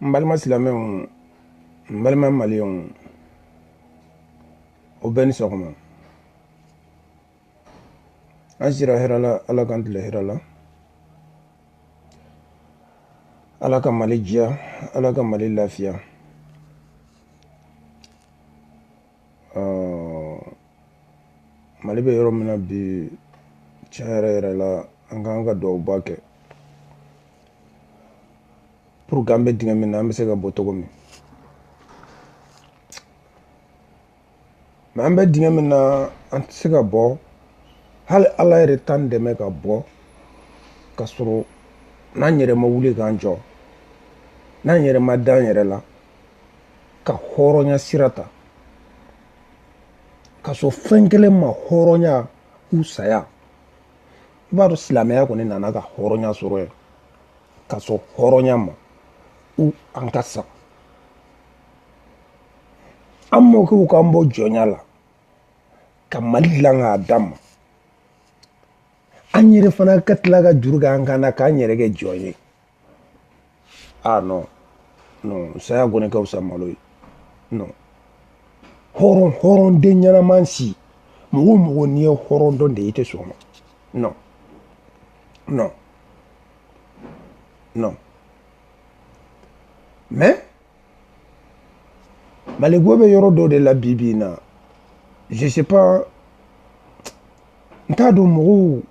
n balima silamɛw n balima maliyɛnw aw bɛɛ ni sɔgɔma an sira hɛrɛ la ala k'an tile hɛrɛ la ala ka mali diya ala ka mali lafiya mali bɛ yɔrɔ min na bi tiɲɛ yɛrɛ yɛrɛ la an ka kan ka duwawuba kɛ pour que an bɛ dingɛ min na an bɛ se ka bɔ cogo min mais an bɛ dingɛ min na an tɛ se ka bɔ hali ala yɛrɛ t'an dɛmɛ ka bɔ ka sɔrɔ n'an yɛrɛ ma wuli k'an jɔ n'an yɛrɛ ma d'an yɛrɛ la ka hɔrɔnya sira ta ka sɔn fɛn kelen ma hɔrɔnya ou saya i b'a dɔn silamɛya kɔni nana ka hɔrɔnya sɔrɔ yen ka sɔn hɔrɔnya ma ou an ka sa an mɔkɛw k'an bɔ jɔnya la ka mali dilan k'a d'an ma an yɛrɛ fana ka tila ka juru kɛ an kan na k'an yɛrɛ kɛ jɔn ye ah non non saya kɔni ka fisa malo ye non hɔrɔn hɔrɔnden ɲɛnaman si mɔgɔ o mɔgɔ n'i ye hɔrɔn dɔn de i tɛ sɔn o ma non non non mais maliko bɛ yɔrɔ dɔ de la bi bi in na je sais pas n t'a dɔn mɔgɔw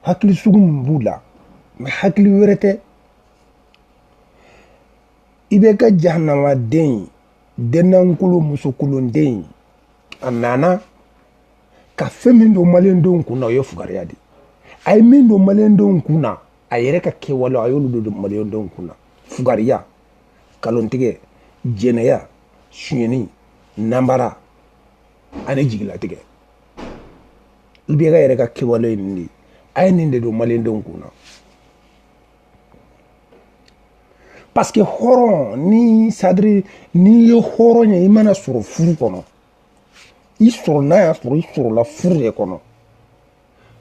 hakili sugu min b'u la mais hakili wɛrɛ tɛ ibk jahanamaden dennankolo musokolonden a nana ka fɛn min don maliyɛndenw kun na o ye fugariya de a ye min don maliyɛndenw kun na a yɛrɛ ka kɛwale a y'olu don maliyɛndenw kun na fugariya kalontigɛ jɛnɛya sonyɛni nanbara ani jigilatigɛ ibk yɛrɛ ka kɛwale ye nin de ye a ye nin de don maliyɛndenw kun na parce que hɔrɔn n'i c'est-à-dire n'i ye hɔrɔn ye i mana sɔrɔ furu kɔnɔ i sɔrɔ n'a y'a sɔrɔ i sɔrɔla furu de kɔnɔ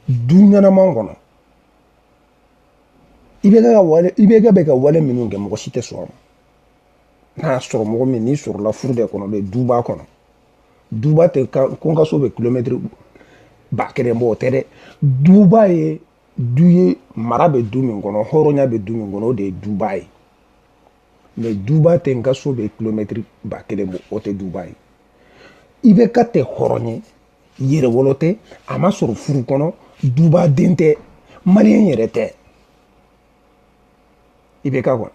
du ɲɛnaman kɔnɔ ibk bɛ ka wale minnu kɛ mɔgɔ si tɛ sɔn a ma n'a sɔrɔ mɔgɔ min n'i sɔrɔla furu de kɔnɔ bɛ duba kɔnɔ duba tɛ ko n ka so bɛ kilomɛtiri ba kelen bɔ o tɛ dɛ duba ye du ye mara bɛ du min kɔnɔ hɔrɔnya bɛ du min kɔnɔ o de ye duba ye mais duba tɛ n ka so bɛ kilomɛtiri ba kelen bɔ o tɛ duba ye ibk tɛ hɔrɔn ye yɛrɛwolo tɛ a ma sɔrɔ furu kɔnɔ duba den tɛ maliyɛn yɛrɛ tɛ ibk kɔni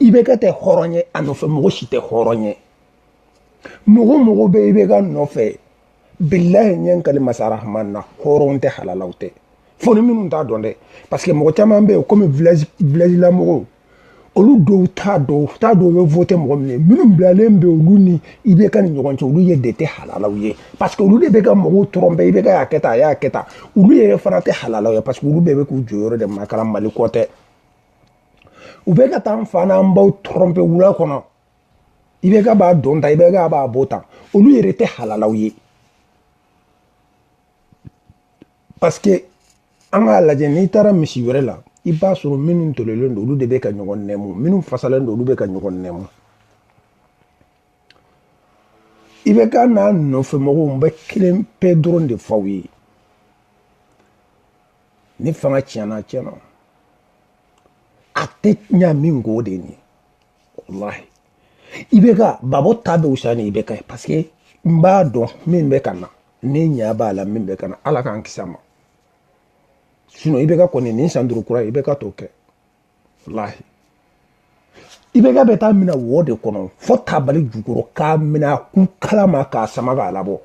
ibk tɛ hɔrɔn ye a nɔfɛ mɔgɔ si tɛ hɔrɔn ye mɔgɔ mɔgɔ bɛ ibk nɔfɛ bilahi n ye n kali masa rahman na hɔrɔn tɛ halalaw tɛ fo ni minnu t'a dɔn dɛ parce que mɔgɔ caman bɛ yen komi village village la mɔgɔw olu dɔw t'a dɔn t'a dɔn u bɛ vote mɔgɔ min ye minnu bilalen bɛ olu ni ibk ni ɲɔgɔn cɛ olu ye de tɛ halalaw ye parce que olu de bɛ ka mɔgɔw tromper ibk y'a kɛ tan a y'a kɛ tan olu yɛrɛ fana tɛ halalaw ye parce que olu bɛɛ bɛ k'u jɔyɔrɔ de makaran mali ko tɛ u bɛ ka taa an fa n'an baw tromper wula kɔnɔ ibk b'a don tan ibk b'a bɔ tan olu yɛrɛ tɛ halalaw ye parce que an k'a lajɛ n'i taara misi wɛrɛ la i b'a sɔrɔ minnu tɔlɔlen don olu de bɛ ka ɲɔgɔn nɛmu minnu fasalen don olu bɛ ka ɲɔgɔn nɛmu ibk n'a nɔfɛ mɔgɔw n bɛ kelen pe dɔrɔn de fɔ aw ye ni fanga tiɲɛna tiɲɛna a tɛ ɲa min ko de nin walahi ibk gbagbo ta bɛ wusa ni ibk ye parce que n b'a dɔn min bɛ ka na ne ɲa b'a la min bɛ ka na ala k'an kisi a ma sinon ibk kɔni nin san duuru kura ibk t'o kɛ walahi ibk bɛ taa mina wo de kɔnɔ fo tabali jukɔrɔ k'a mina kun kala ma k'a sama k'a labɔ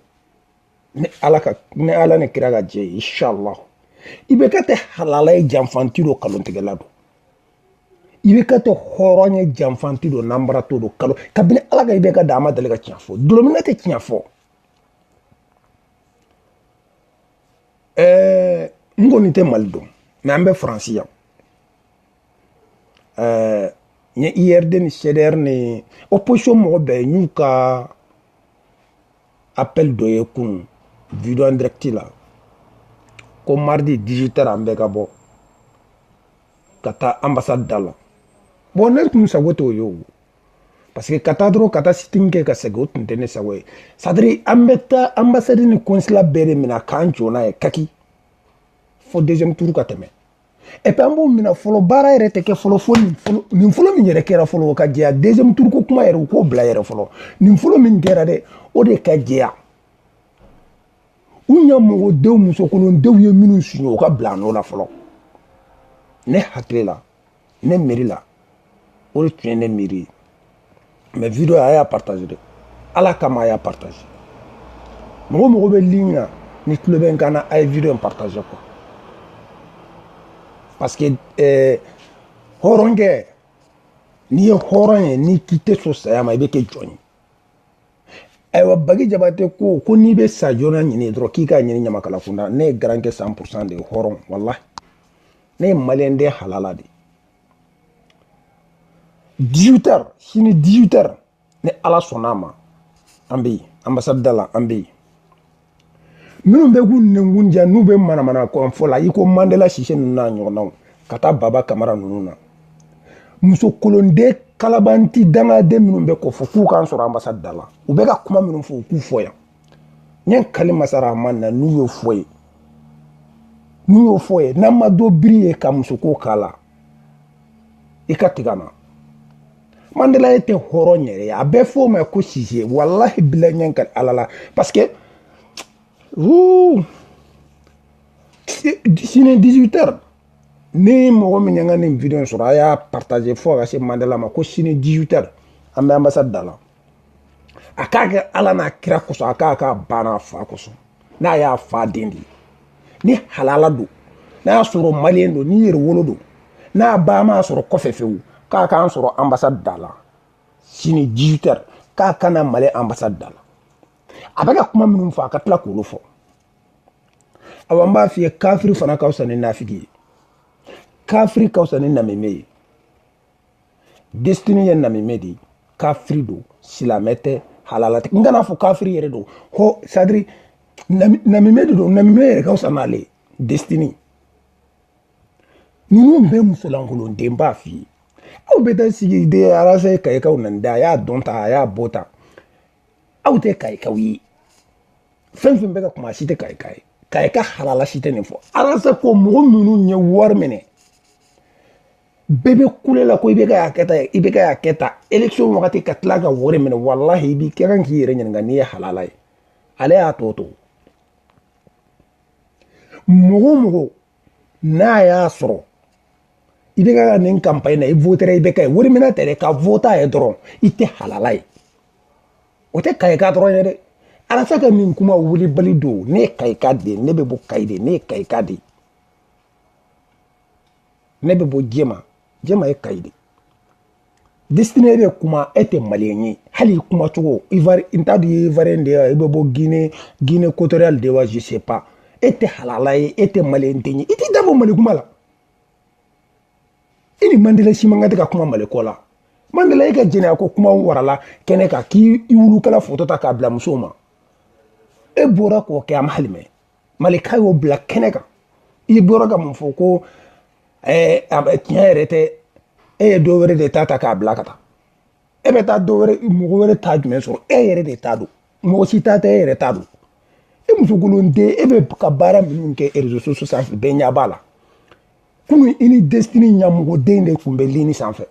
ni ala ka ni ala ni kira ka jɛ ye inshallah ibk tɛ halala ye janfanti don kalontigɛla don ibk tɛ hɔrɔn ye janfanti don nanbaratɔ don kalo kabini ala ka ibk da a ma deli ka tiɲɛ fɔ dulɔminna tɛ tiɲɛ fɔ ɛɛ n kɔni tɛ mali dɔn mais an bɛ faransi yan ɛɛ n ye urd ni cdr ni opposition mɔgɔ bɛɛ y'u ka appel dɔ ye kunun video en direct la ko mardi 18 heures an bɛɛ ka bɔ ka taa ambassade da la bon ne tun sago t'o ye o parce que ka taa dɔrɔn ka taa sit-in kɛ ka segin o tun tɛ ne sago ye c'est-à-dire an bɛ taa ambassade ni consulat bɛɛ de minɛ k'an jɔ n'a ye kaki fo deuxième tour ka tɛmɛ et puis an b'o minɛ fɔlɔ baara yɛrɛ tɛ kɛ fɔlɔ fo nin fɔlɔ min yɛrɛ kɛra fɔlɔ o ka jɛya deuxième tour ko kuma yɛrɛ u k'o bila yɛrɛ fɔlɔ nin fɔlɔ min kɛra dɛ o de ka jɛya u ɲamɔgɔdenw musokolondenw ye minnu suɲɛ o ka bila nɔ la fɔlɔ ne hakili la ne miiri la o de tun ye ne miiri ye mais vidéo a y'a partage dɛ ala kama a y'a partage mɔgɔ o mɔgɔ bɛ ligne na n'i tulo bɛ n kan na a ye vidéo in partage quoi parce que eh, hɔrɔnkɛ n'i ye hɔrɔn ye n'i k'i tɛ sɔn saya ma i bɛ kɛ jɔn ye ayiwa bagi jabate ko ko n'i bɛ sa joona ɲini dɔrɔn k'i k'a ɲini ɲamakala kunda ne ye garankɛ cent pourcent de ye hɔrɔn walahi ne ye maliyɛnden halala de ye 18 heures sini 18 heures ni ala sɔnna a ma an bɛ yen anbasadi da la an bɛ yen minnu bɛ k'u nɛnkun diya n'u bɛ manamana ko fɔ la i ko mandela sise ninnu n'a ɲɔgɔnnaw ka taa baba kamara ninnu na musokolonden kalabanti dangaden minnu bɛ k'o fɔ k'u k'an sɔrɔ anbasadi da la u bɛ ka kuma minnu fɔ u k'u fɔ yan n ye n kali masa rahman na n'u y'o fɔ yen n'u y'o fɔ yen n'an ma dɔ biri yen ka musoko k'a la i ka tigɛ n na mandela yɛrɛ tɛ hɔrɔn yɛrɛ ye a bɛ f'o ma ko sise walahi bilahi n ye n kali ala la parce que sini 18 heures ni mɔgɔ min y'an ka nin vidéo sɔrɔ a y'a partage fo ka se mandela ma ko sini 18 heures an bɛ ambassade da la a k'a kɛ ala n'a kira kosɔn a k'a k'a ba n'a fa kosɔn n'a y'a fa den de ye ni halala don n'a y'a sɔrɔ maliyɛn don ni yɛrɛwolo don n'a ba m'a sɔrɔ kɔfɛ fewu k'a k'an sɔrɔ anbasadi da la sini 18 heures k'a ka na mali anbasadi da la a bɛ ka kuma minnu fɔ a ka tila k'olu fɔ awa n b'a f'i ye kafiri fana ka fisa ni nafigi ye kafiri ka fisa ni namimɛ ye destiny ye namimɛ de ye kafiri don silamɛ tɛ halala tɛ n kan'a fɔ kafiri yɛrɛ don hasidi namimɛ de don namimɛ yɛrɛ ka fisa n'ale ye destiny ninnu bɛɛ musolankolonden n b'a f'i ye aw bɛ taa sigi de arasa ye kayikaw nɛni da a y'a dɔn ta a y'a bɔ ta aw tɛ kayikaw ye fɛn fɛn bɛ ka kuma si tɛ kayika ye kayika halala si tɛ nin fɔ arasa ko mɔgɔ minnu ye wari minɛ bɛɛ bɛ kule la ko IBK y'a kɛta ye IBK y'a kɛta élection wagati ka tila ka wari minɛ walahi i b'i kɛ kan k'i yɛrɛ ɲininka n'i ye halala ye ale y'a tɔ to mɔgɔ mɔgɔ n'a y'a sɔrɔ IBK nin kanpaɲi na i votera IBK ye wari minɛ tɛ dɛ ka vote a ye dɔrɔn i tɛ halala ye o tɛ kayika dɔrɔn ye dɛ arasa ka nin kuma wulibali don ne ye kayika de ye ne bɛ bɔ kayi de ne ye kayika de ye ne bɛ bɔ jɛma jɛma ye kayi de destini bɛ kuma e tɛ maliyɛn ye hali i kuma cogo n t'a dɔn i ye ivoirien de ye i bɛ bɔ guinée guinée équatoriale de wa je sais pas e tɛ halala ye e tɛ maliyɛn den ye i t'i da bɔ mali kuma la i ni mandela si man kan tɛ ka kuma mali ko la mandela e ka jɛnɛya ko kuma warala kɛnɛ kan k'i y'i wulukala foto ta k'a bila musow ma e bɔra k'o kɛ a ma hali mɛɛn malika y'o bila kɛnɛ kan i bɔra ka mun fɔ ko tiɲɛ yɛrɛ tɛ e ye dɔ wɛrɛ de ta ta k'a bila ka taa e bɛ taa dɔ wɛrɛ mɔgɔ wɛrɛ ta jumɛn sɔrɔ e yɛrɛ de ta don mɔgɔ si ta tɛ e yɛrɛ ta don e musokolon den e bɛ ka baara minnu kɛ réseaux sociaux sanfɛ bɛɛ ɲɛ b'a la kunu i ni destini ɲamɔgɔden de tun bɛ lini sanfɛ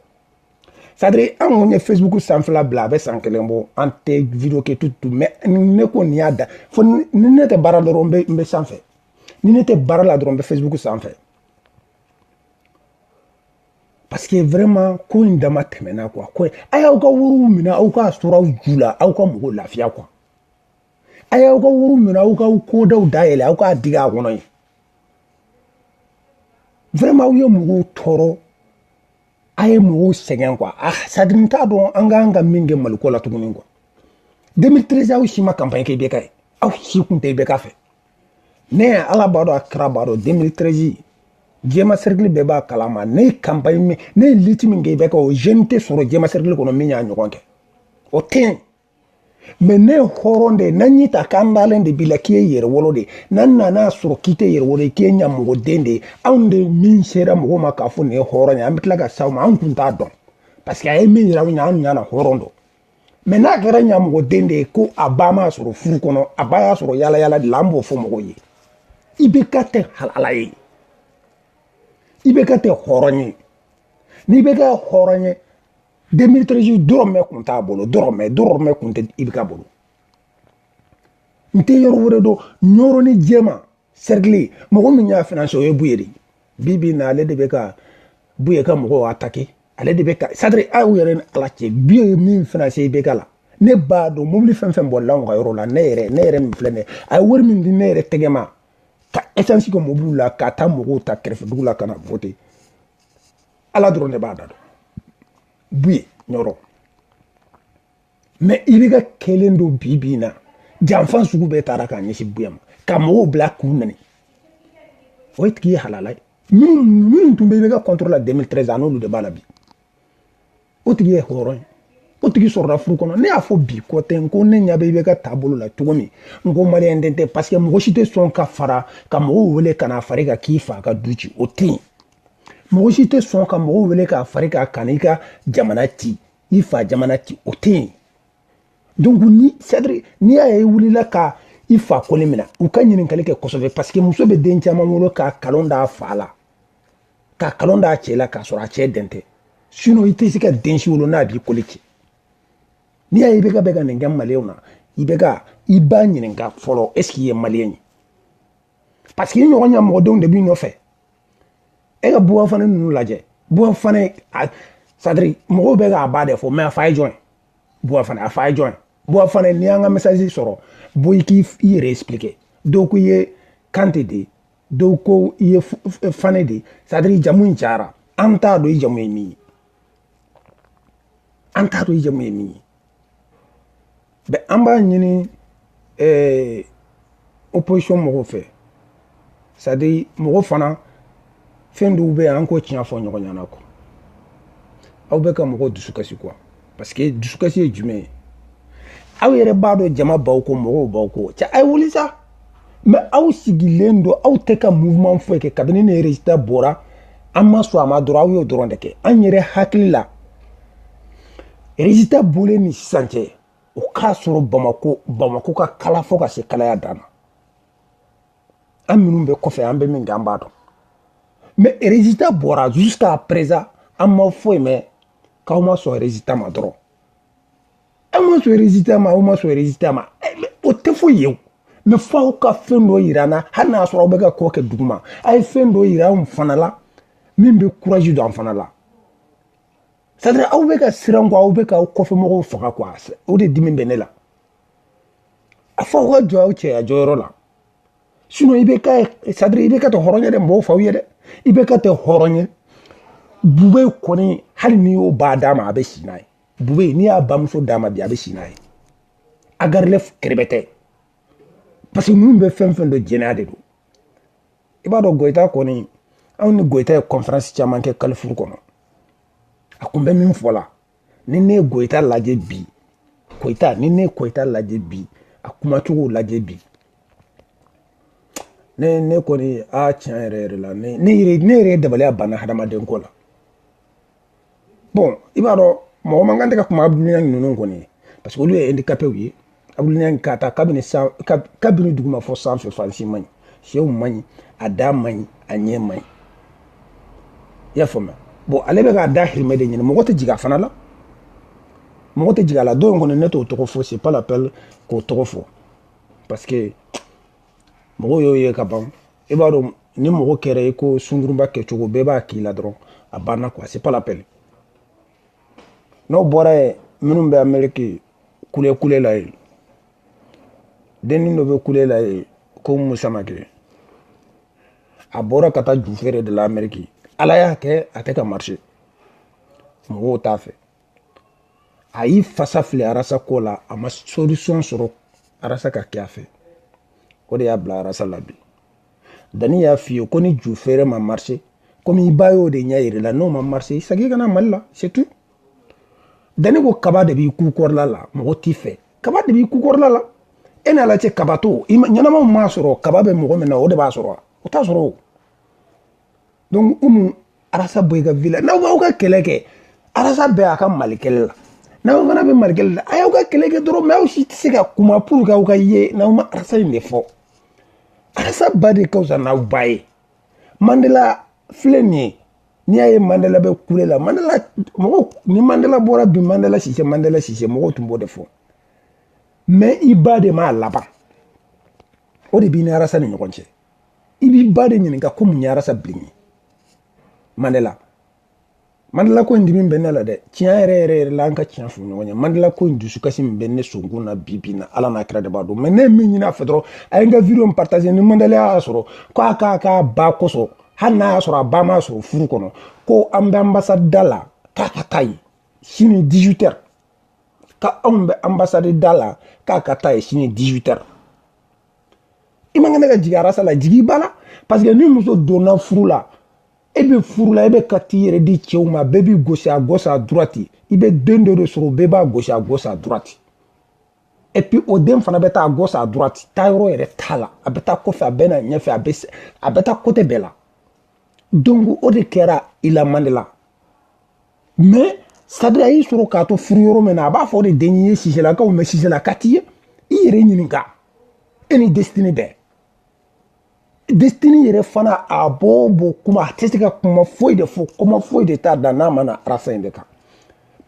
c'est-à-dire an kun ye facebook sanfɛla bila a bɛ san kelen bɔ an tɛ video kɛ tutu mais ne ko nin y'a da fo ni ne tɛ baara la dɔrɔn n bɛ sanfɛ ni ne tɛ baara la dɔrɔn n bɛ facebook sanfɛ parce que vraiment ko in dama tɛmɛna quoi ko a y'aw ka wariw minɛ aw k'a sɔrɔ aw ju la aw ka mɔgɔw lafiya quoi a y'aw ka wariw minɛ aw ka kodaw dayɛlɛ aw k'a digi a kɔnɔ ye vraiment aw ye mɔgɔw tɔɔrɔ a ye mɔgɔw sɛgɛn quoi c'est-à-dire n t'a dɔn an k'an ka min kɛ maliko la tuguni quoi 2013 aw si ma kanpaɲi kɛ IBK ye aw si kun tɛ IBK fɛ ne ye ala b'a dɔn a kira b'a dɔn 2013 jɛma serikili bɛɛ b'a kalama ne ye kanpaɲi min ne ye liti min kɛ IBK o jeune tɛ sɔrɔ jɛma serikili kɔnɔ min y'a ɲɔgɔn kɛ o tɛ yen mais ne ye hɔrɔn de ye n'an y'i ta k'an dalen de b'i la k'i ye yɛrɛwolo de ye n'an nana sɔrɔ k'i tɛ yɛrɛwolo ye k'i ye ɲamɔgɔden de ye anw de min sera mɔgɔw ma k'a fɔ nin ye hɔrɔn ye an bɛ tila ka s'aw ma anw tun t'a dɔn parce que a ye min yira anw na anw ɲana hɔrɔn don mais n'a kɛra ɲamɔgɔden de ye ko a ba m'a sɔrɔ furu kɔnɔ a ba y'a sɔrɔ yala yala de la an b'o fɔ mɔgɔw ye IBK tɛ halala ye IBK tɛ hɔrɔn ye ni IBK hɔrɔn ye 2013 dɔrɔmɛ kun t'a bolo dɔrɔmɛ dɔrɔmɛ kun tɛ IBK bolo n tɛ yɔrɔ wɛrɛ dɔn ɲɔrɔ ni jɛma serikili mɔgɔ min y'a finance o ye buye de bi bi na ale de bɛ ka buye ka mɔgɔw atake ale de bɛ ka c'est-à-dire aw yɛrɛ ni ala cɛ buye ye min finance IBK la ne b'a dɔn mobili fɛn o fɛn bɔla anw ka yɔrɔ la ne yɛrɛ ne yɛrɛ min filɛ ne a ye wari min di ne yɛrɛ tɛgɛ ma ka essence kɛ mobiliw la ka taa mɔgɔw ta kɛrɛfɛ dugu la ka na vote ala dɔrɔn de b'a da dɔn buye ɲɔrɔ mais ibk kelen don bi bi in na janfan sugu bɛɛ taara k'a ɲɛsin buye ma ka mɔgɔw bila k'u nɛni o ye tigi ye halala ye minnu tun bɛ ibk contre la 2013 a n'olu de b'a la bi o tigi ye hɔrɔn ye o tigi sɔrɔla furu kɔnɔ ne y'a fɔ bi kɔ tɛ n ko ne ɲa bɛ ibk taabolo la cogo min n ko maliyɛn den tɛ parce que mɔgɔ si tɛ sɔn ka fara ka mɔgɔw wele ka na far'i kan k'i fa ka du ci o tɛ yen mɔgɔ si tɛ sɔn ka mɔgɔw wele k'a far'i kan ka n'i ka jamana ci i fa jamana ci o tɛ yen donc ni c'est-à-dire n'i y'a ye i wulila ka i fa kɔli minɛ u ka ɲininkali kɛ kosɛbɛ parce que muso bɛ den caman wolo ka kalon d'a fa la ka kalon d'a cɛ la k'a sɔrɔ a cɛ den tɛ sinon i tɛ se ka den si wolo n'a b'i kɔli ci n'i y'a ye ibk bɛ ka nin kɛ maliyɛnw na ibk i ba ɲininka fɔlɔ est ce qu'i ye maliyɛn ye parce que i ɲɔgɔn ɲamɔgɔdenw de b'i nɔfɛ e ka buba fane ninnu lajɛ buba fane c'est-à-dire mɔgɔw bɛ k'a ba de fɔ mais a fa ye jɔn ye buba fane a fa ye jɔn ye buba fane n'i y'an ka message sɔrɔ bɔ i k'i yɛrɛ expliquer dɔw ko i ye kante de ye dɔw ko i ye fane de c'est-à-dire i jamu in cayara an t'a dɔn i jamu ye min ye an t'a dɔn i jamu ye min ye ben an b'a ɲini eh, opposition mɔgɔw fɛ c'est-à-dire mɔgɔ fana fɛn dɔw bɛ yen an k'o tiɲɛ fɔ ɲɔgɔn ɲɛna quoi aw bɛ ka mɔgɔw dusukasi quoi parce que dusukasi ye jumɛn ye aw yɛrɛ b'a dɔn jama b'aw kɔ mɔgɔw b'aw kɔ cɛ a ye wuli sa mais aw sigilen don aw tɛ ka mouvement foyi kɛ kabini ne résultat bɔra an ma sɔn a ma dɔrɔn aw y'o dɔrɔn de kɛ an yɛrɛ hakili la résultat bɔlen ni sisan cɛ o k'a sɔrɔ bamako bamako ka kalan fo ka se kalaya dan na an minnu bɛ kɔfɛ an bɛ min kɛ an b'a dɔn mais résultat bɔra jusqu'à présent an ma foyi mɛn k'aw ma sɔn résultat ma dɔrɔn aw ma sɔn résultat ma aw ma sɔn résultat ma o tɛ foyi ye o mais fo aw ka fɛn dɔ yira an na hali n'a sɔrɔ aw bɛ ka ko kɛ duguma a ye fɛn dɔ yira anw fana la min bɛ courage don an fana la c'est-à-dire aw bɛ ka siran quoi aw bɛ ka aw kɔfɛ mɔgɔw faga quoi o de dimi bɛ ne la a fo aw ka jɔ aw cɛya jɔyɔrɔ la sinon ibk c'est-à-dire ibk tɛ hɔrɔn ye dɛ n b'o f'aw ye dɛ ibk tɛ hɔrɔn ye bube kɔni hali n'i y'o ba d'a ma a bɛ si n'a ye bube n'i y'a bamuso d'a ma bi a bɛ si n'a ye agarile kɛrɛbɛ tɛ parce que ninnu bɛ fɛn fɛn don jɛnɛya de don i b'a dɔn goyita kɔni anw ni goyita ye conférence caman kɛ carrefour kɔnɔ a kun bɛ min fɔ la ni ne ye goyita lajɛ bi goyita ni ne ye goyita lajɛ bi a kumacogo lajɛ bi ne ne kɔni a tiɲɛ yɛrɛ yɛrɛ la ne ne yɛrɛ ne yɛrɛ dabaliya banna hadamaden ko la bon i b'a dɔn mɔgɔ man kan tɛ ka kuma dumuniya ninnu kɔni parce que olu ye handicapéw ye kabini k'a ta kabini san kabini duguma fɔ sanfɛ fan si man ɲi senw man ɲi a da man ɲi a ɲɛ man ɲi i y'a faamuya bon ale bɛ k'a dahirimɛ de ɲini mɔgɔ tɛ jigin a fana la mɔgɔ tɛ jigin a la dɔ in kɔni ne t'o tɔgɔ fɔ c'est pas la peine k'o tɔgɔ fɔ parce que mɔgɔw y'o ye ka ban i b'a dɔn ni mɔgɔ kɛra i ko sungurunba kɛcogo bɛɛ b'a k'i la dɔrɔn a banna quoi c'est pas la peine n'o bɔra yen minnu bɛ ameriki kule kule la yen dennin dɔ bɛ kule la yen ko musamakɛ a bɔra ka taa ju feere de la amɛriki ala y'a kɛ a tɛ ka marché mɔgɔw t'a fɛ a y'i fasa fili arasa ko la a ma solution sɔrɔ arasa ka kɛ a fɛ o de y'a bila arasa la bi dani y'a f'i ye ko ni ju feere ma marché komi i ba y'o de ɲɛ yir'i la n'o ma marché i segin ka na mali la c'est tout dani ko kaba de b'i kukɔrɔla la mɔgɔ t'i fɛ kaba de b'i kukɔrɔla la e n'a la cɛ kaba to ɲɛnamaw m'a sɔrɔ kaba bɛ mɔgɔ min na o de b'a sɔrɔ o t'a sɔrɔ o donc umu arasa bɔ i ka vie la n'aw b'aw ka kɛlɛ kɛ arasa bɛɛ a ka mali kɛlɛ la n'aw fana bɛ mali kɛlɛ la a y'aw ka kɛlɛ kɛ dɔrɔn mais aw si tɛ se ka kuma pour que aw ka ye n'aw ma arasa in de fɔ arasa ba de ka fisa n'aw ba ye mandela filɛ nin ye n'i y'a ye mandela bɛ kule la mandela mɔgɔ ni mandela bɔra bi mandela sise mandela sise mɔgɔw tun b'o de fɔ mais i ba de m'a laban o de b'i ni arasa ni ɲɔgɔn cɛ i b'i ba de ɲininka ko mun ye arasa bilen ye mandela mandela ko in dimi bɛ ne la dɛ tiɲɛ yɛrɛ yɛrɛ yɛrɛ la an ka tiɲɛ fɔ ɲɔgɔn ye mandela ko in dusukasi min bɛ ne sɔnkun na bi bi na ala n'a kira de b'a dɔn mais ne ye min ɲini a fɛ dɔrɔn a ye n ka vidéo in partager ni mandela y'a sɔrɔ ko a k'a k'a ba kosɔn hali n'a y'a sɔrɔ a ba m'a sɔrɔ furu kɔnɔ ko an bɛ anbasadi da la k'a ka taa yen sini 18 heures ka anw bɛ anbasadi da la k'a ka taa yen sini 18 heures i man kan ka jigin arasa la jigin i ba la parce que ni muso donna furu la e bɛ furu la e bɛ ka t'i yɛrɛ di cɛw ma bɛɛ b'i gosi à gauche à droite i bɛ den dɔ de sɔrɔ bɛɛ b'a gosi à gauche à droite et puis o den fana bɛ taa gauche à droite taayɔrɔ yɛrɛ t'a la a bɛ taa kɔfɛ a bɛ na ɲɛfɛ a bɛ a bɛ taa côté bɛɛ la donc o de kɛra i la mandela mais c'est-à-dire a y'i sɔrɔ k'a to furu yɔrɔ min na a b'a fɔ o de den ye siselakaw mais siselaka t'i ye i yɛrɛ ɲininka e ni desitini bɛɛ destini yɛrɛ fana a b'o b'o kuma a tɛ se ka kuma foyi de fɔ kuma foyi de t'a da n'a ma na arasa in de kan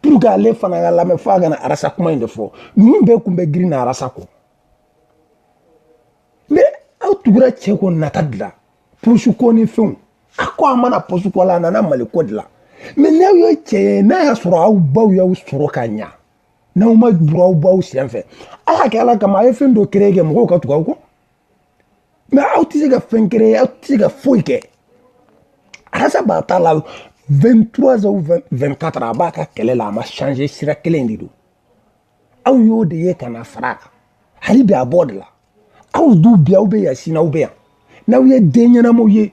pour que ale fana ka lamɛn fo a ka na arasa kuma in de fɔ ninnu bɛɛ kun bɛ girin na arasa kɔ mais aw tugura cɛ kɔ nata de la poche ko ni fɛnw a ko a ma na poche ko la a nana mali ko de la mais n'aw ye cɛ ye n'a y'a sɔrɔ aw baw y'aw sɔrɔ ka ɲa n'aw ma burun aw baw sen fɛ ala k'a kɛ ala kama a ye fɛn dɔ créer kɛ mɔgɔw ka tugu aw kɔ mais aw tɛ se ka fɛn créer aw tɛ se ka foyi kɛ arasa b'a ta la 23 ou 24 a b'a ka kɛlɛ la a ma changer sira kelen de don aw y'o de ye ka na fara a kan hali bi a b'o de la aw dun bi aw bɛ yan sini aw bɛ yan n'aw ye den ɲɛnamaw ye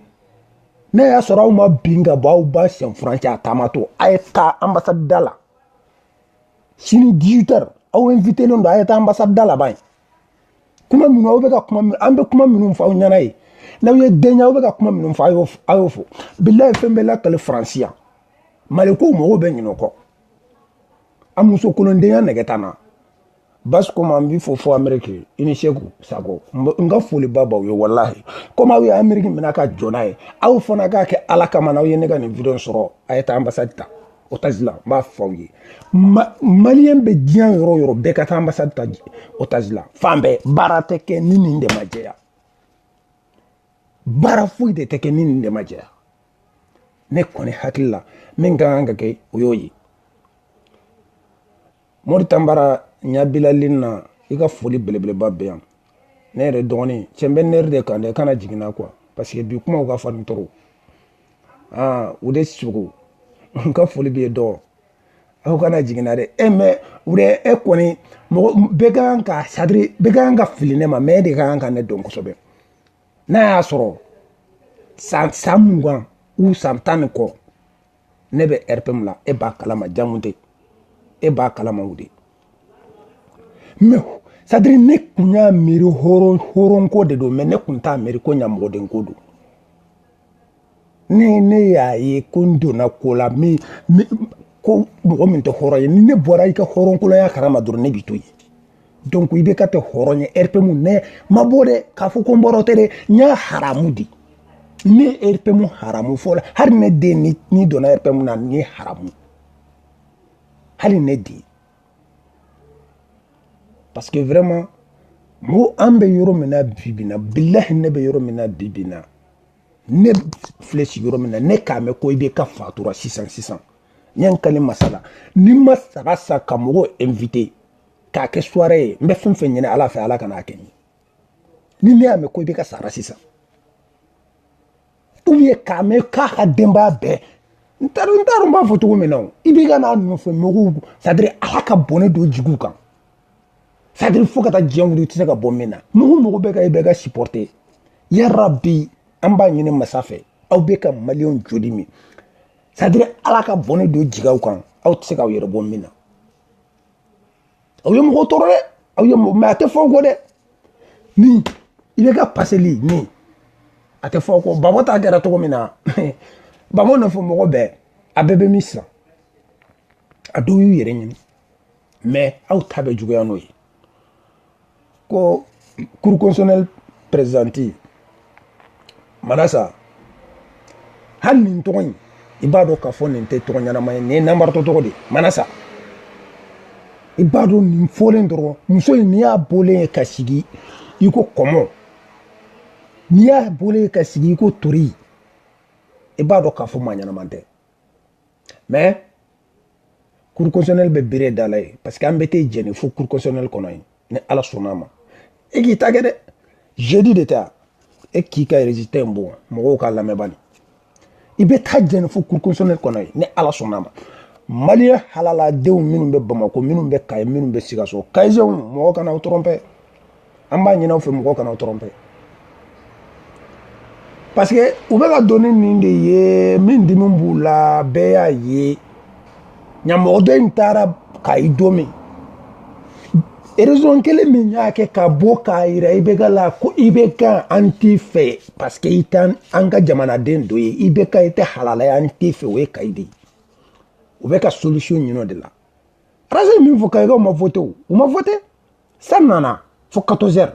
n'a y'a sɔrɔ aw ma bin ka bɔ aw ba sen furancɛ a taamatɔ a ye taa anbasadi da la sini 18 heures aw invitelen don a ye taa anbasadi da la ban kuma minnu aw bɛ ka kuma min an bɛ kuma minnu fɔ aw ɲɛna ye n'aw ye den ye aw bɛ ka kuma minnu fɔ a y'o fɔ bilayi fɛn bɛɛ lakali faransi yan malikow mɔgɔw bɛ ɲinɛ o kɔ an musokolondenya nɛgɛ t'an na basi komi an b'i fo fo ameriki i ni seku sago n ka foliba b'aw ye walahi komi aw ye ameriki minɛ ka jɔ n'a ye aw fana k'a kɛ ala kama n'aw ye ne ka nin video sɔrɔ a ye taa anbasadi ta otazi la n b'a fɔ aw ye maliyɛn bɛ diɲɛ yɔrɔ o yɔrɔ bɛɛ ka taa anbasadi ta otazi la fan bɛɛ baara tɛ kɛ ni nin de ma jɛya baara foyi de tɛ kɛ ni nin de ma jɛya ne kɔni hakili la min ka kan ka kɛ o y'o ye mori tanbara ɲabilali na i ka foli belebeleba bɛ yan ne yɛrɛ dɔgɔnin cɛ n bɛ nɛri de kan dɛ kana jigin n na quoi parce que bi kumaw ka farin trop ah ude sogo n ka foli b'i ye dɔgɔ aw kana jigin n na dɛ e mais ude e kɔni mɔgɔ bɛɛ ka kan ka c'est-à-dire bɛɛ ka kan ka fili ne ma mais e de ka kan ka ne dɔn kosɛbɛ n'a y'a sɔrɔ san san mugan ou san tan ni kɔ ne bɛ rpm la e b'a kalama jamu tɛ e b'a kalama ude mais c'est-à-dire ne kun y'a miiri hɔrɔn hɔrɔnko de don mais ne kun t'a miiri ko ɲamɔgɔdenko don ne ne y'a ye ko n donna ko la min ko mɔgɔ min tɛ hɔrɔn ye ni ne bɔra i ka hɔrɔnkolonya karama dɔrɔn ne b'i to yen donc ibk tɛ hɔrɔn ye rpm ne ma bɔ dɛ k'a fɔ ko n bɔra o tɛ dɛ n y'a haramu di ne rpm haramu fɔlɔ hali ne den ni ni donna rpm na ni haramu hali ne den parce que vraiment mo an bɛ yɔrɔ min na bi bi na bilahi ne bɛ yɔrɔ min na bi bi na ne filɛ sigiyɔrɔ min na ne k'a mɛn ko ibk fatura sisan sisan n ye n kale masa la ni n ma saga san ka mɔgɔw inviter k'a kɛ suware ye n bɛ fɛn fɛn ɲini ala fɛ ala kana a kɛ n ye ni ne y'a mɛn ko IBK sara sisan ou bien k'a mɛn k'a ka denbaya bɛɛ n t'a dɔn n t'a dɔn n b'a fɔ cogo min na o IBK n'a nɔfɛ mɔgɔw sadiri ala ka bɔnɛ dɔ jigin u kan sadiri fo ka taa diɲɛ wuli i tɛ se ka bɔ min na mɔgɔ mɔgɔ bɛ ka IBK sipɔrite yarabi an b'a ɲini masa fɛ aw bɛ ka maliyɛnw joli min sadiri ala ka bɔnɛ dɔ jigin aw kan aw tɛ se k'aw yɛrɛ bɔ min na aw ye mɔgɔ tɔɔrɔ dɛ aw ye mɔgɔ mɛ a tɛ f'aw kɔ dɛ min IBK paseli min a tɛ f'aw kɔ gbagbo ta kɛra cogo min na gbagbo nɔfɛ mɔgɔ bɛɛ a bɛɛ bɛ min sisan a dɔw y'u yɛrɛ ɲini mɛ aw ta bɛ juguya n'o ye ko cour constitutionnelle présidente manasa hali nin tɔgɔ in i b'a dɔn k'a fɔ nin tɛ tɔgɔ ɲɛnama ye nin ye nanbaratɔ tɔgɔ de ye manasa i b'a dɔn nin fɔlen dɔrɔn muso in n'i y'a bɔlen ye ka sigi i ko kɔmɔ n'i y'a bɔlen ye ka sigi i ko tori i b'a dɔn k'a fɔ maa ɲɛnama tɛ mɛ cour constitutionnelle bɛ bere da la ye parce que an bɛ t'i jɛni fo cour constitutionnelle kɔnɔ yen ni ala sɔnna a ma e k'i ta kɛ dɛ jeudi de ta e k'i ka résultat in bɔ mɔgɔw k'a lamɛn bani i bɛ taa jɛni fo cour constitutionnelle kɔnɔ yen ni ala sɔnna a ma maliyɛn halaladenw minnu bɛ bamako minnu bɛ kayi minnu bɛ sikaso kayisɛnw mɔgɔ kana aw tɔrɔnpe an b'a ɲin'aw fɛ mɔgɔ kan'aw tɔrɔnpe parce que u bɛ ka don ni nin de ye min dimi b'u la bɛɛ y'a ye ɲamɔgɔden in taara kayi don min erezon kelen min y'a kɛ ka bɔ k'a yira IBK la ko IBK an t'i fɛ parce que i tɛ an ka jamanaden dɔ ye IBK i tɛ halala ye an t'i fɛ o ye kayi de ye u bɛ ka solution ɲin'o de la arasi ye min fɔ kayikaw ma vote o u ma vote san nana fo katɔzɛri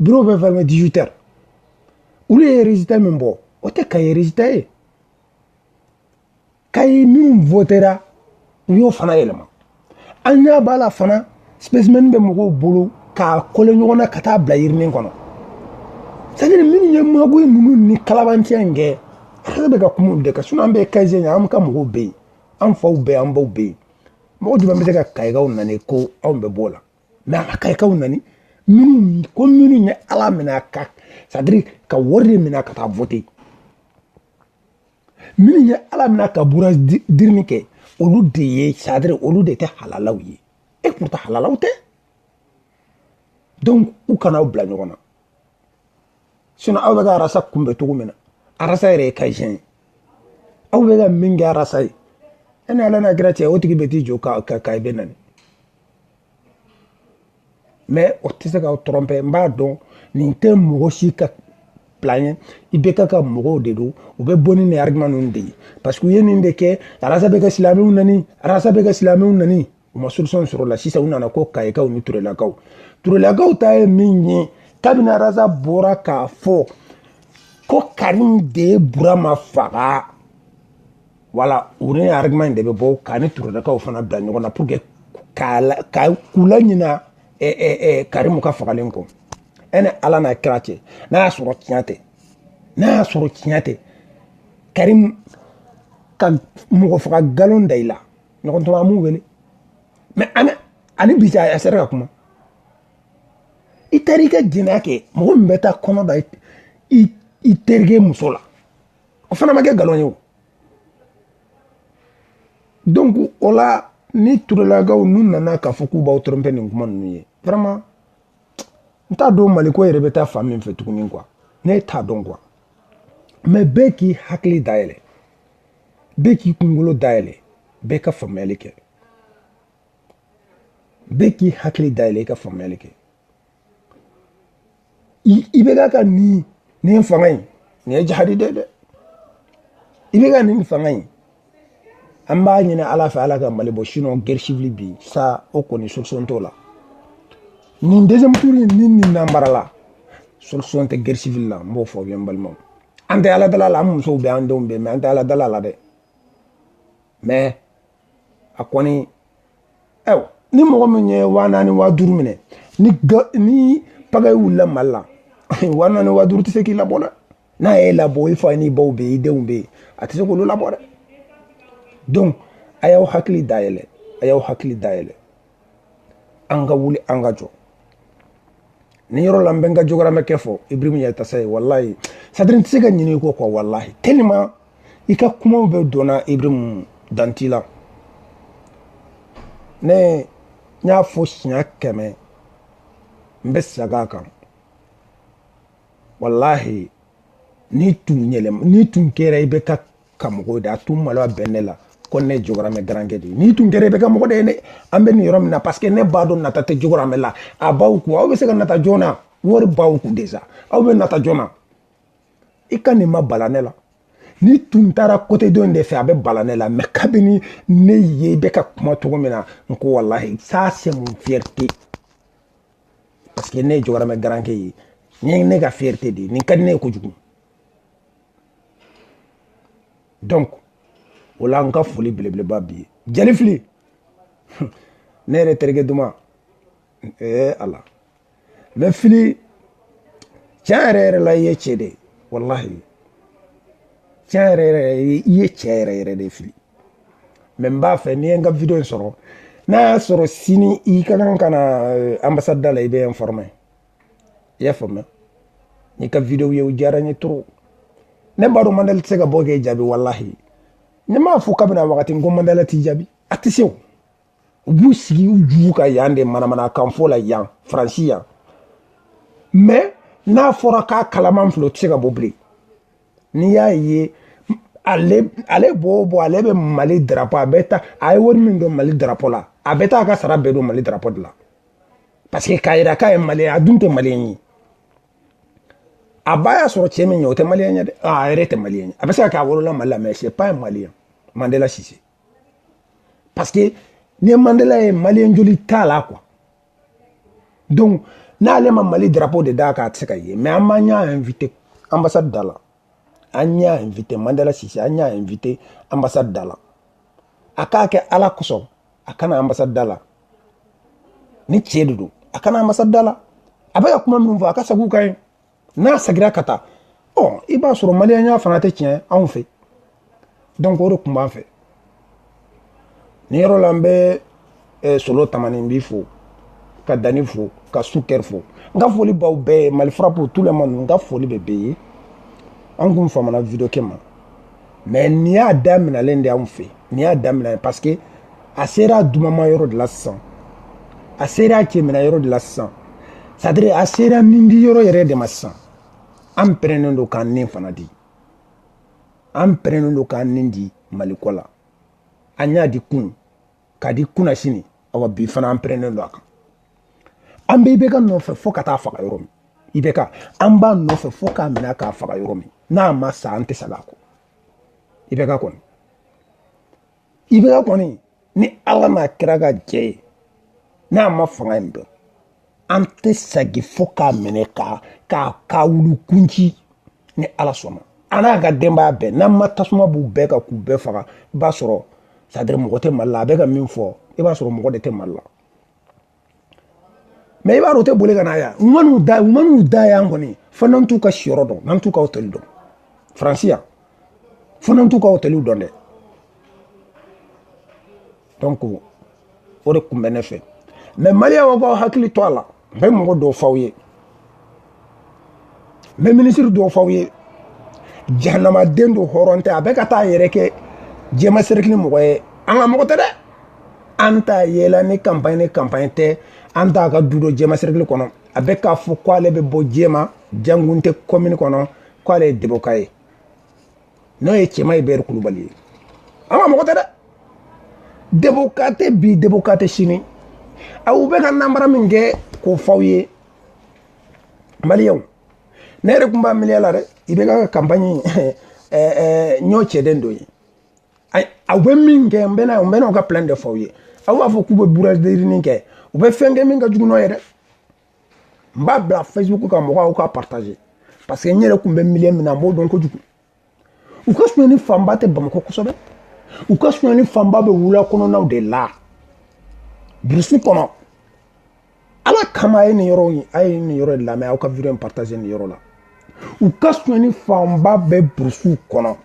biro bɛ fɛrɛme dizuitɛri olu ye rezita min bɔ o tɛ kayi rezita ye kayi minnu votera u y'o fana yɛlɛma an ɲɛ b'a la fana sipesimɛni bɛ mɔgɔw bolo k'a kole ɲɔgɔn na ka taa bila urne in kɔnɔ sadiri minnu ye maguyi ninnu ni kalabanciya in kɛ ale bɛ ka kuma olu de kan sinɔn an bɛ kayi an ka mɔgɔw bɛ yen an faw bɛ yen an baw bɛ yen mɔgɔ jumɛn bɛ se ka kayikaw nani ko anw bɛ b'o la mɛ a ma kayikaw nani minnu ko minnu ye ala minɛ a ka sadiri ka wari de minɛ ka taa vote minnu ye ala minɛ ka bourrage d'urne kɛ olu de ye sadiri olu de tɛ halalaw ye et pourtant halalaw tɛ donc u kana aw bila ɲɔgɔn na sinon aw bɛ ka arasa kunbɛn cogo min na arasa yɛrɛ ye kayisɛn ye aw bɛ ka min kɛ arasa ye e ni ala n'a kira cɛ o tigi bɛ t'i jɔ ka ka i bɛ nani mais o tɛ se k'aw tromper n b'a dɔn nin tɛ mɔgɔ si ka plan ye IBK ka mɔgɔw de don u bɛ bɔ ni nin argument ninnu de ye parce que u ye nin de kɛ arasa bɛ ka silamɛw nani arasa bɛ ka silamɛw nani u ma solution sɔrɔ o la sisan u nana ko kayikaw ni turelakaw turelakaw ta ye min ye kabini arasa bɔra k'a fɔ ko karimu de ye burama faga wala u ni argument in de bɛ bɔ k'a ni turelakaw fana bila ɲɔgɔn na pour que ka k'u laɲina karimu ka fagalen kɔ e ni ala n'a kira cɛ n'a y'a sɔrɔ tiɲɛ tɛ n'a y'a sɔrɔ tiɲɛ tɛ karimu ka mɔgɔ faga nkalon da i la ɲɔgɔn tuma an b'u wele mais ani bi a sera ka kuma i taara i ka jɛnɛya kɛ mɔgɔ min bɛ taa kɔnɔ da i terikɛ muso la o fana ma kɛ nkalon ye o donc o la ni turelakaw n'u nana k'a fɔ k'u b'aw tromper nin kuma ninnu ye vraiment n t'a dɔn mali ko yɛrɛ bɛ taa fan min fɛ tuguni quoi ne t'a dɔn quoi mais bɛɛ k'i hakili dayɛlɛ bɛɛ k'i kunkolo dayɛlɛ bɛɛ ka faamuyali kɛ bɛɛ k'i hakili dayɛlɛ i ka faamuyali kɛ IBK ka nin nin fanga in nin ye jahadi dɛ dɛ IBK nin fanga in an b'a ɲini ala fɛ ala ka mali bɔ sinon guerre civile bi sa o kɔni solution t'o la nin deuxième tour in ni nin nanbarala solution tɛ guerre civile la n b'o fɔ aw ye n balimaw an tɛ ala dal'a la an musow bɛ an denw bɛ mais an tɛ ala dal'a la dɛ mais a kɔni aw ni mɔgɔ min ye waa naani waa duuru minɛ ni ni pagaille wulila mali la waa naani waa duuru tɛ se k'i labɔ dɛ n'a y'i labɔ i fa n'i baw bɛ yen i denw bɛ yen a tɛ se k'olu labɔ dɛ donc a y'aw hakili dayɛlɛ a y'aw hakili dayɛlɛ an ka wuli an ka jɔ nin yɔrɔ la n bɛ n ka jogoramɛkɛ fo ibrahim yattassaye walayi c'est-à-dire n tɛ se ka ɲinɛ i kɔ quoi walayi tellement i ka kumaw bɛɛ donna ibrahim dan t'i la ne n y'a fɔ siɲɛ kɛmɛ n bɛ segin a kan walayi n'i tun yɛlɛma n'i tun kɛra IBK ka mɔgɔw de a tun malo a bɛn ne la ko ne jogoramɛ garankɛ de n'i tun kɛra IBK mɔgɔ de ye ne an bɛ nin yɔrɔ min na parce que ne b'a dɔn nata tɛ jogoramɛ la a b'aw kun aw bɛ se ka nata joona wari b'aw kun déjà aw bɛ nata joona i ka nin ma bala ne la n'i tun taara côté dɔ in de fɛ a bɛ bala ne la mais kabini ne ye i bɛ ka kuma cogo min na n ko walahi ça c'est mon fierté parce que ne ye jogoramɛ garankɛ ye nin ye ne ka fierté de ye nin ka di ne ye kojugu donc o la n ka foli belebeleba b'i ye jali fili ne yɛrɛ terikɛ duman ee ala mais fili tiɲɛ yɛrɛ yɛrɛ la i ye cɛ de ye walahi tiɲɛ yɛrɛ yɛrɛ i ye cɛ yɛrɛ yɛrɛ de fili mais n b'a fɛ n'i ye n ka video in sɔrɔ n'a y'a sɔrɔ sini i ka kan ka na eh, ambassade da la i bɛ informer i y'a faamuya n y'i ka video ye o diyara n ye trop ne b'a dɔn mandela tɛ se ka bɔ k'e jaabi walahi ne m'a fɔ kabini a wagati n ko mandela t'i jaabi a tɛ se o u b'u sigi u ju kan yan de manamanakan fɔ la yan faransi yan mais n'a fɔra k'a kalaman filɛ o tɛ se ka bɔ bilen n'i y'a ye ale ale b'o bɔ ale bɛ mali darapo a bɛ taa a ye wari min don mali darapo la a bɛ taa a ka sara bɛɛ don mali darapo de la parce que k'a yira k'a ye maliyɛn a dun tɛ maliyɛn ye a ba y'a sɔrɔ cɛ min ye o tɛ maliyɛn ye dɛ a yɛrɛ tɛ maliyɛn ye a bɛ se ka kɛ a wolola mali la mais c'est pas un maliyɛn mandela sise parce que ni mandela ye maliyɛn joli t'a la quoi donc n'ale ma mali drapeau de d'a kan a tɛ se ka ye mais an b'an y'a invité ambassade da la an y'a invité mandela sise an y'a invité ambassade da la a k'a kɛ ala kosɔn a ka na ambassade da la ni cɛ de don a ka na ambassade da la a bɛ ka kuma minnu fɔ a ka sagi u kan ye n'a sagira ka taa ɔ i b'a sɔrɔ maliyɛnya fana tɛ tiɲɛ anw fɛ donc o de tun b'an fɛ nin yɔrɔ la n bɛ eh, solo tamani n b'i fo ka dani fo ka sukɛri fo n ka foli b'aw bɛɛ ye mali frappe tous les membres n ka foli bɛ bɛɛ ye an kun famana video kɛ ma mais nin y'a daminalen de anw fɛ nin y'a daminalen parce que a sera dumama yɔrɔ de la sisan a sera cɛmina yɔrɔ de la sisan c'est à dire a sera nin di yɔrɔ yɛrɛ de ma sisan an pɛrɛnnen don k'an nin fana di an pɛrɛnnen don k'an nin di maliko la an y'a di kunun k'a di kunasini awa bi fana an pɛrɛnnen don a kan an bɛ IBK nɔfɛ fo ka t'a faga yɔrɔ min IBK an b'a nɔfɛ fo k'a minɛ k'a faga yɔrɔ min n'a ma sa an tɛ sag'a kɔ IBK kɔni IBK kɔni ni ala n'a kira ka jɛ ye n'a ma fanga in dɔn an tɛ sagi fo k'a minɛ k'a k'a k'a wulu kun ci ni ala sɔnna a n'a ka denbaya bɛɛ n'an ma tasuma b'u bɛɛ kan k'u bɛɛ faga i b'a sɔrɔ c'est-à-dire mɔgɔ tɛ mali la a bɛ ka min fɔ i b'a sɔrɔ mɔgɔ de tɛ mali la mais i b'a dɔn o tɛ boli ka na yan u man'u da yan kɔni fo n'an t'u ka siyɔrɔ dɔn n'an t'u ka hotɛli dɔn faransi yan fo n'an t'u ka hotɛliw dɔn dɛ donc o de kun bɛ ne fɛ mais maliyɛnw a k'aw hakili to a la n bɛ mɔgɔ dɔw f'aw ye n bɛ minisiri dɔw f'aw ye jahanamaden don hɔrɔn tɛ a bɛ ka taa a yɛrɛ kɛ jɛma serikili mɔgɔ ye an ka mɔgɔ tɛ dɛ an t'a yela ni kanpaɲi ni kanpaɲi tɛ an t'a ka du dɔn jɛma serikili kɔnɔ a bɛ k'a fɔ k'ale bɛ bɔ jɛma jangunte kɔmini kɔnɔ k'ale ye deboka ye n'o ye cɛma hubert kulubali ye an ka mɔgɔ tɛ dɛ deboka tɛ bi deboka tɛ sini aw bɛ ka namara min kɛ k'o fɔ aw ye maliyɛnw ne yɛrɛ tun b'a milieu la dɛ ibk kanpaɲi n y'o cɛden dɔ ye aw bɛ min kɛ n bɛna n bɛna aw ka plan de fɔ aw ye aw b'a fɔ k'u bɛ bourrage d'urne kɛ u bɛ fɛn kɛ min ka jugu n'o ye dɛ n b'a bila facebook kan mɔgɔw k'a partager parce que n yɛrɛ tun bɛ milieu min na n b'o dɔn kojugu u ka sonyani fanba tɛ bamakɔ kosɛbɛ u ka sonyani fanba bɛ wula kɔnɔnaw de la burusi kɔnɔ ala kama a ye nin yɔrɔ a ye nin yɔrɔ de lamɛn aw ka video in partager nin yɔrɔ la u ka sonyani fanba bɛ burusiw kɔnɔ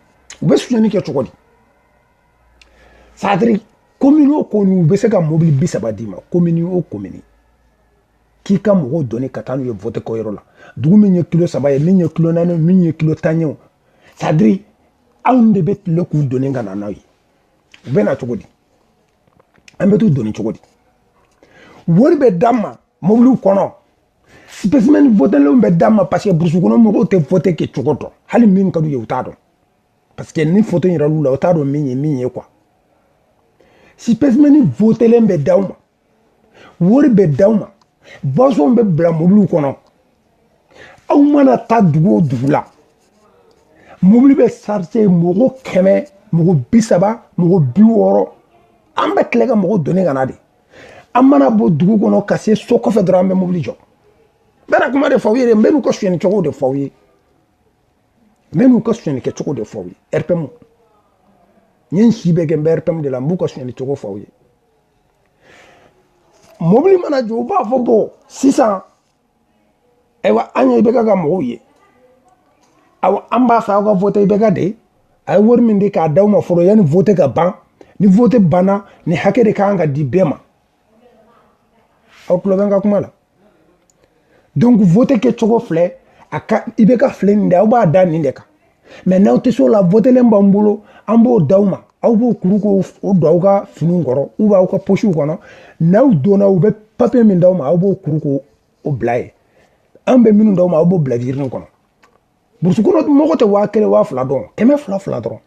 u bɛ sonyani kɛ cogo di c'est-à-dire komini o komini u bɛ se ka mobili bi saba d'i ma komini o komini k'i ka mɔgɔw doni ka taa n'u ye vote kɛyɔrɔ la dugu min ye kilo saba ye min ye kilo naani min ye kilo tan ye o c'est-à-dire anw de bɛ tile k'u doni ka na n'aw ye u bɛ na cogo di an bɛ t'u doni cogo di wari bɛ d'an ma mobiliw kɔnɔ spécimen votelenw bɛ d'an ma parce que burusi kɔnɔ mɔgɔw tɛ vote kɛ cogo dɔn hali min ka d'u ye u t'a dɔn parce que ni foto yiral'u la u t'a dɔn min ye min ye quoi spécimen votelenw bɛ d'aw ma wari bɛ d'aw ma boissonw bɛ bila mobiliw kɔnɔ aw mana taa dugu o dugu la mobili bɛ sarise mɔgɔ kɛmɛ mɔgɔ bi saba mɔgɔ bi wɔɔrɔ an bɛ tila ka mɔgɔ doni ka na de an mana bɔ dugu kɔnɔ ka se so kɔfɛ dɔrɔn an bɛ mobili jɔ n bɛna kuma de fɔ aw ye n bɛn'u ka sonyɛni cogo de fɔ aw ye n bɛn'u ka sonyɛni kɛ cogo de fɔ aw ye rpm n ye n si bɛɛ kɛ n bɛ rpm de la n b'u ka sonyɛni cogo fɔ aw ye mobili mana jɔ u b'a fɔ bon sisan ayiwa an ye ibk ka mɔgɔw ye awa an b'a fɛ aw ka vote ibk de a ye wari min di k'a d'aw ma fɔlɔ yanni vote ka ban ni vote banna nin hakɛ de ka kan ka di bɛɛ ma aw tulo bɛ n ka kuma la donc vote kɛcogo filɛ a ka ibk filɛ nin de aw b'a da nin de kan mais n'aw tɛ se o la votelen b'an bolo an b'o d'aw ma aw b'o kuru k'o o don aw ka finiw kɔrɔ ou bien aw ka posiw kɔnɔ n'aw donna u bɛ papiye min d'aw ma aw b'o kuru k'o o bila yen an bɛ minnu d'aw ma aw b'o bila urne kɔnɔ burusi kɔnɔ mɔgɔ tɛ waa kelen waa fila dɔn kɛmɛ fila fila dɔrɔn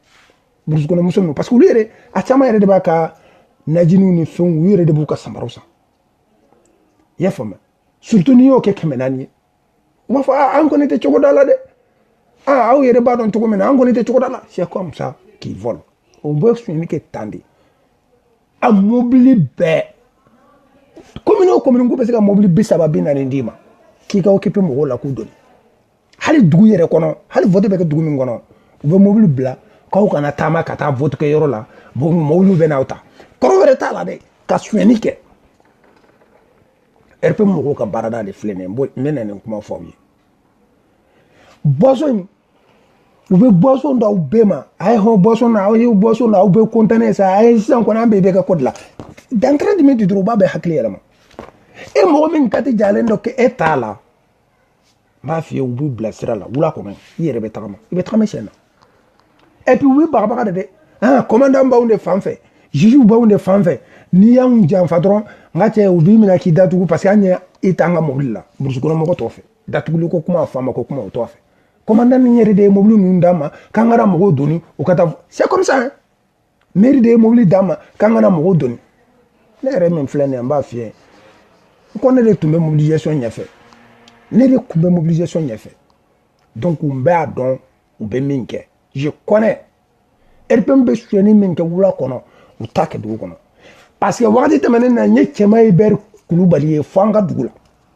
burusi kɔnɔ muso ninnu parce que olu yɛrɛ a caman yɛrɛ de b'a ka najiniw ni fɛnw u yɛrɛ de b'u ka samaraw san i y'a faamuya surtout n'i y'o kɛ kɛmɛ naani ye u b'a fɔ aa an kɔni tɛ cogoda la dɛ aa aw yɛrɛ b'a dɔn cogo min na an kɔni tɛ cogoda la c'est comme ça qu'ils volent o bɛ sonyali kɛ tan de a mobili bɛɛ komini o komini k'u bɛ se ka mobili bi saba bi naani d'i ma k'i ka occuper mɔgɔw la k'u doni hali dugu yɛrɛ kɔnɔ hali vote bɛ kɛ dugu min kɔnɔ u bɛ mobili bila k'aw kana taama ka taa vote kɛ yɔrɔ la mobiliw bɛ n'aw ta kɔrɔ wɛrɛ t'a la dɛ ka sonyɛni kɛ rpm mɔgɔw ka baarada de filɛ nin ye n bɛ na nin kuma fɔ aw ye boisson in u bɛ boisson d'aw bɛɛ ma a ye hɔn boisson na aw ye boisson na aw bɛ kɔntannen sa a ye sisan kɔni an bɛɛ bɛ kɛ kɔdi la dans trente minutes dɔrɔn u b'a bɛɛ hakili yɛlɛma e mɔgɔ min kati jalen dɔ kɛ e t'a la n b'a f'i ye u b'u bila sira la wula kɔnɔ i yɛrɛ bɛ tagama i bɛ tagama sen na et puis u bɛ bagabaga de dɛ ah commandant b'anw de fan fɛ juge b'anw de fan fɛ n'i y'anw janfa dɔrɔn n ka cɛ u b'i minɛ k'i datugu parce que an ye i t'an ka mobili la burusi kɔnɔ mɔgɔ t'o fɛ datuguli ko kuma faama ko kuma o t'o fɛ commandant ni yɛrɛ de ye mobili ninnu d'a ma k'an ka na mɔgɔw doni u ka taa c'est comme ça hein mɛri de ye mobili d'a ma k'an ka na mɔgɔw doni ne yɛrɛ min filɛ nin ye n b'a f'i ye n ko ne de tun bɛ mobilisation ɲɛfɛ ne de tun bɛ mobilisation ɲɛfɛ donc n bɛ a dɔn u bɛ min kɛ je connais rpm bɛ sonyɛni min kɛ wula kɔnɔ u t'a kɛ dugu kɔnɔ parce que wagati tɛmɛnen na n ye cɛman hubert kulubali ye fo an ka dugu la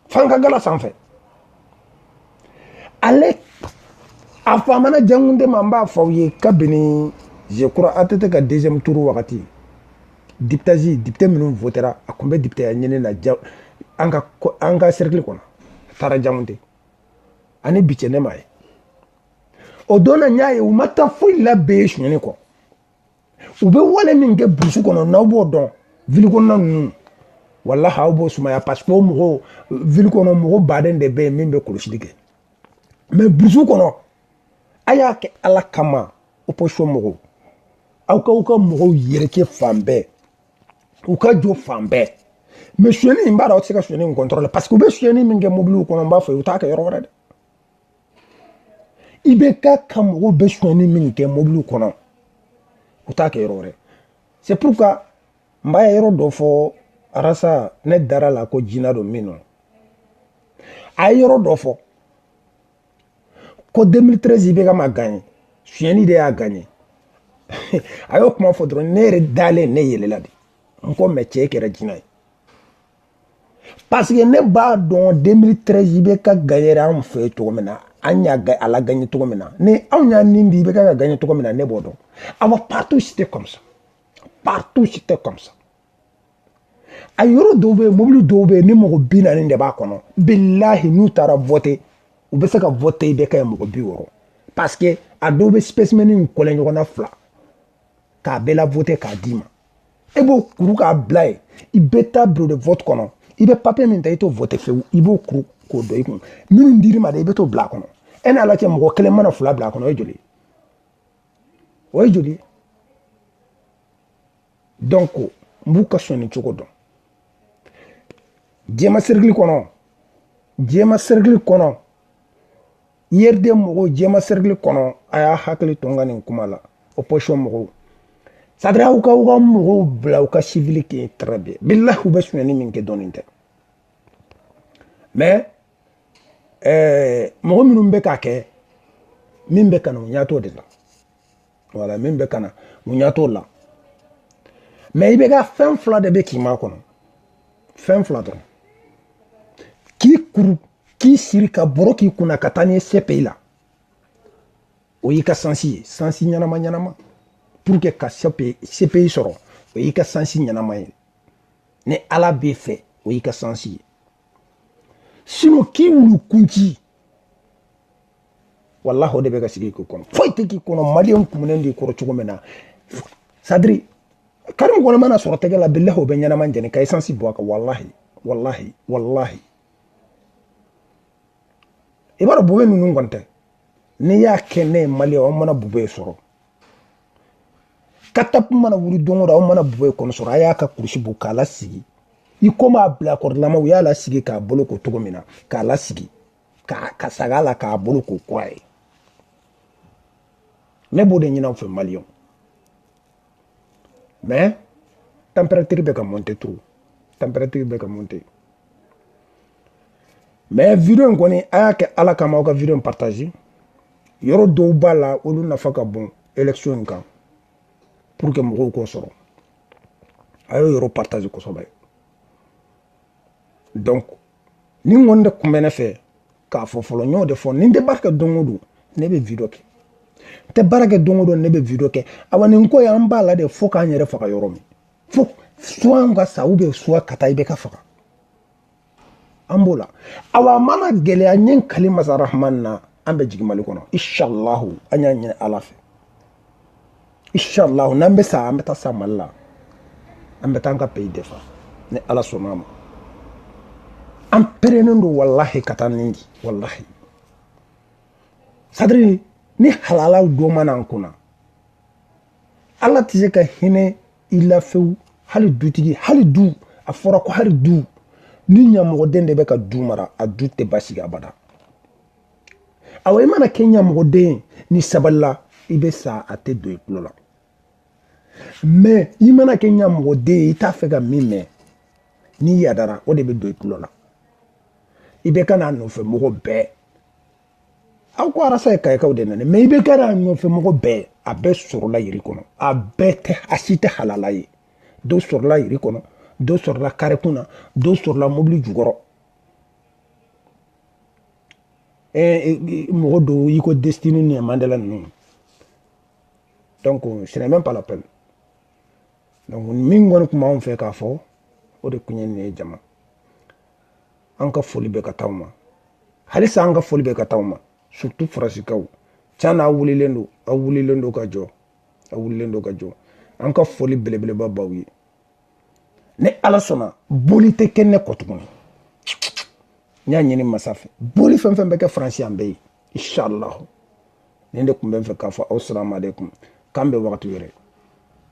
f'an ka gala sanfɛ ale a famana jangunde ma n b'a fɔ aw ye kabini je crois att ka deuxième tour wagati diptazi depite minnu votera a tun bɛ depiteya ɲini na an ka an ka cercle kɔnɔ a taara jangunde ani bi cɛ ne m'a ye o don na n y'a ye u ma taa foyi la bɛɛ ye sonyani kɔ u bɛ wale min kɛ burusi kɔnɔ n'aw b'o dɔn ville kɔnɔna ninnu walahi aw b'o sumaya parce que o mɔgɔw ville kɔnɔ mɔgɔ baden de bɛ yen min bɛ kɔlɔsili kɛ mais burusi kɔnɔ a y'a kɛ ala kama opposition mɔgɔw aw ka aw ka mɔgɔw yɛrɛkɛ fan bɛɛ u ka jɔ fan bɛɛ mais sonyɛni n b'a dɔn aw tɛ se ka sonyɛni in contrôler parce que u bɛ sonyɛni min kɛ mobiliw kɔnɔ n b'a fɔ u t'a kɛ yɔrɔ wɛrɛ dɛ IBK ka mɔgɔw bɛ sonyani min kɛ mɔbiliw kɔnɔ u t'a kɛ yɔrɔ wɛrɛ c'est pourquoi n b'a yɔrɔ dɔ fɔ arasa ne dara la ko jina don min nɔ a ye yɔrɔ dɔ fɔ ko 2013 IBK ma ganye sonyani de y'a ganye a y'o kuma fɔ dɔrɔn ne yɛrɛ dalen ne yɛlɛla de n ko mais cɛ kɛra jina ye parce que ne b'a dɔn 2013 IBK gagner anw fɛ yen cogo min na an y'a lagagner cogo min na ni anw y'a nin di IBK ka gagner cogo min na ne b'o dɔn awa partout c'était comme ça partout c'était comme ça a yɔrɔ dɔw bɛ yen mobili dɔw bɛ yen ni mɔgɔ bi naani de b'a kɔnɔ bilahi n'u taara vote u bɛ se ka vote IBK ye mɔgɔ bi wɔɔrɔ parce que a dɔw bɛ spécimen kɔlɛ ɲɔgɔn na fila k'a bɛɛ lavote k'a d'i ma e b'o kuru k'a bila yen i bɛ taa bureau de vote kɔnɔ i bɛ papiye min ta i t'o vote fewu i b'o kuru k'o don i kun minnu dir'i ma de i bɛ t'o bila a kɔnɔ e n'a lajɛ mɔgɔ kelen mana fila bila a kɔnɔ o ye joli ye o ye joli ye donc n b'u ka sonyani cogo dɔn jɛma serikili kɔnɔ jɛma serikili kɔnɔ URD mɔgɔw jɛma sɛrikili kɔnɔ a y'a hakili to n ka nin kuma la opposition mɔgɔw c'est-à-dire aw ka aw ka mɔgɔw bila u ka sivili kɛ très bien bilahi u bɛ sonyani min kɛ dɔɔnin tɛ mais eh, mɔgɔ minnu bɛ k'a kɛ min bɛ kana u ɲɛ t'o de la voilà min bɛ kana u ɲɛ t'o la mais IBK fɛn fila de bɛ k'i makɔnɔ fɛn fila dɔrɔn k'i kuru k'i siri ka bɔrɔ k'i kunna ka taa n'i ye CPI la o y'i ka sansi ye sansi ɲɛnama ɲɛnama pour que ka CPI sɔrɔ o y'i ka sansi ɲɛnama ye ni ala b'e fɛ o y'i ka sansi ye sinon k'i wulu kunci walahi o de bɛ ka sigi k'i kɔnɔ foyi tɛ k'i kɔnɔ maliyɛn kumunen de kɔrɔ cogo min na sadiri karimu kɔni mana sɔrɔ tɛgɛ la bilahi u b'a ɲɛnama jeni ka esansi bɔn a kan walahi walahi walahi i b'a dɔn bube ninnu kɔni tɛ n'i y'a kɛ ne ye maliyɛn aw mana bube sɔrɔ katap mana wuli don o don aw mana bube kɔni sɔrɔ a y'a ka kurusi bɔ k'a lasigi i komi a bilakorolama u y'a lasigi k'a boloko cogo min na k'a lasigi ka sag'a la k'a boloko kura ye ne b'o de ɲin'aw fɛ maliyɛnw mais température bɛ ka monter trop température bɛ ka monter mais vidéo in kɔni a y'a kɛ ala kama aw ka vidéo in partager yɔrɔ dɔw b'a la olu nafa ka bon élection in kan pour que mɔgɔw k'o sɔrɔ a y'o yɔrɔ partager kosɛbɛ donc nin kɔni de kun bɛ ne fɛ k'a fɔ fɔlɔ n y'o de fɔ ni n tɛ baara kɛ don o don ne bɛ video kɛ n tɛ baara kɛ don o don ne bɛ video kɛ awa nin ko ye an b'a la de fo k'an yɛrɛ faga yɔrɔ min fo soit an ka sa ou bien soit ka taa IBK faga an b'o la awa a mana gɛlɛya n ye n kali masa rahman na an bɛ jigin mali kɔnɔ inshallahu an y'a ɲini ala fɛ inshallah n'an bɛ sa an bɛ taa sa mali la an bɛ taa an ka pays défendre ni ala sɔnna a ma an perennen don walahi ka taa nin di walahi c'est-à-dire ni halalaw dɔ ma na an kunna ala tɛ se ka hinɛ i la fewu hali dutigi hali du a fɔra ko hali du ni ɲamɔgɔden de bɛ ka du mara a du tɛ basigi abada awa i mana kɛ ɲamɔgɔden ye n'i sabalila i bɛ sa a tɛ don i tulo la mais i mana kɛ ɲamɔgɔden ye i t'a fɛ ka min mɛn n'i yadara o de bɛ don i tulo la IBK n'a nɔfɛ mɔgɔ bɛɛ aw ko arasa ye kayikaw de nana mais IBK n'a nɔfɛ mɔgɔ bɛɛ a bɛɛ sɔrɔla yiri kɔnɔ a bɛɛ tɛ a si tɛ halala ye dɔ sɔrɔla yiri kɔnɔ dɔ sɔrɔla karekun na dɔ sɔrɔla mobili jukɔrɔ mɔgɔ dɔw i ko destini ni mandela ninnu donc ce n'est même pas la peine donc min kɔni tun b'anw fɛ k'a fɔ o de tun ye nin ye jama an ka foli bɛ ka taa aw ma halisa an ka foli bɛ ka taa aw ma surtout faransikaw can na aw wulilen don aw wulilen don ka jɔ aw wulilen don ka jɔ an ka foli belebeleba b'aw ye ni ala sɔnna bɔli tɛ kɛ ne kɔ tuguni n y'a ɲini masa fɛ bɔli fɛn fɛn bɛ kɛ faransi an bɛ yen inshallah nin de tun bɛ n fɛ k'a fɔ aw salamu aleykum k'an bɛn wagati wɛrɛ